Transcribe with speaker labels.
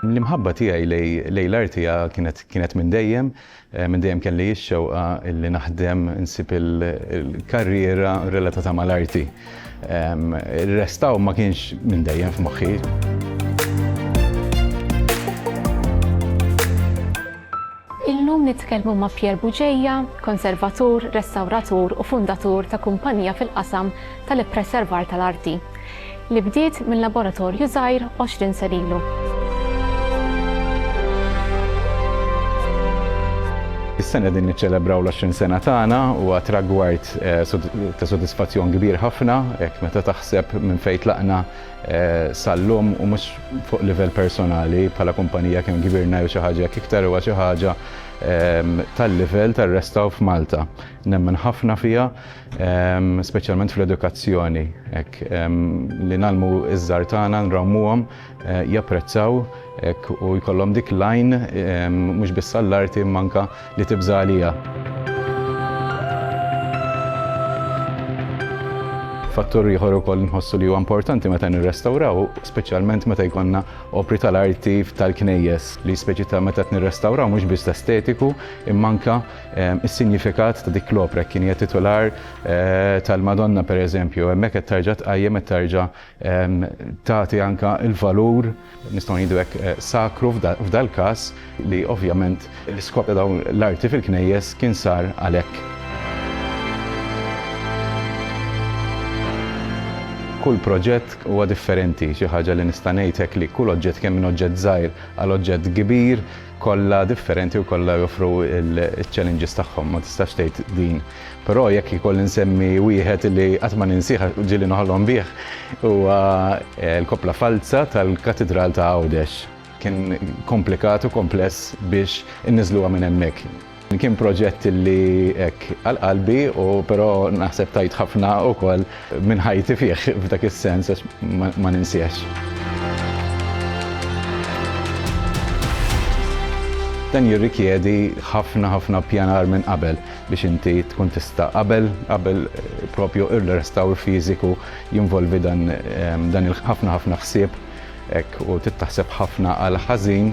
Speaker 1: L-imħabba tiegħi lejn l-arti kienet minn dejjem. Minn dejjem kelli x-xewqa li naħdem, nsib il-karriera relatata mal-arti. Ir-restawr ma kienx minn dejjem f'moħħi.
Speaker 2: Illum nitkellmu ma' Pierre Bugeja, konservatur, restawratur u fundatur ta' kumpanija fil-qasam tal-ippreservar tal-arti, li bdiet minn laboratorju żgħir għoxrin sen ilu.
Speaker 1: Is-sena qegħdin niċċelebraw l-għoxrin sena tagħna, huwa tragward ta' sodisfazzjon kbir ħafna, hekk meta taħseb minn fejn tlaqna, Sal-lum, u mhux fuq livell personali, bħala kumpanija kemm kbirna jew xi ħaġa hekk iktar huwa xi ħaġa tal-livell tar-restawr f'Malta. Nemmen ħafna fiha, speċjalment fl-edukazzjoni, hekk, li ngħallmu ż-żgħar tagħna, nrawmuhom, japprezzaw, hekk, u jkollhom dik l-għajn mhux biss għall-arti imma anke Li tibża' għalija. Fattur ieħor ukoll nħossu li huwa importanti meta nirrestawraw, speċjalment meta jkollna opri tal-arti tal-knejjes li speċi ta' meta nirrestawraw mhux biss l-estetiku imma anke ehm, is-sinjifikat ta' dik l-opra kien hija titular eh, tal-Madonna pereżempju, hemmhekk qed tarġa' tqajjem qed tarġa' tagħti anke l-valur, nistgħu ngħidu hekk, sakru f'dal-każ, li ovvjament l-iskop ta' dawn l-arti fil-knejjes kien sar għalhekk. Kull proġett huwa differenti, xi ħaġa li nista' ngħid hekk li kull oġġett kemm minn oġġett żgħir għal oġġett kbir, Kollha differenti u kollha joffru l-challenges tagħhom, ma tistax tgħid din. Però jekk ikolli nsemmi wieħed li qatt ma ninsih għax ġieli noħolom bih huwa l-koppla falza tal-Katidral ta' Għawdex. Kien komplikat u kompless biex inniżluha minn hemmhekk. Kien proġett li hekk għal qalbi u però naħseb tajt ħafna wkoll minn ħajti fih f'dak is-sens għax ma ninsiex. Dan jirrikjedi ħafna ħafna pjanar minn qabel biex inti tkun tista' qabel qabel propju ir-restawr fiżiku jinvolvi dan dan il-ħafna ħafna ħsieb hekk u tittaħseb ħafna għal ħażin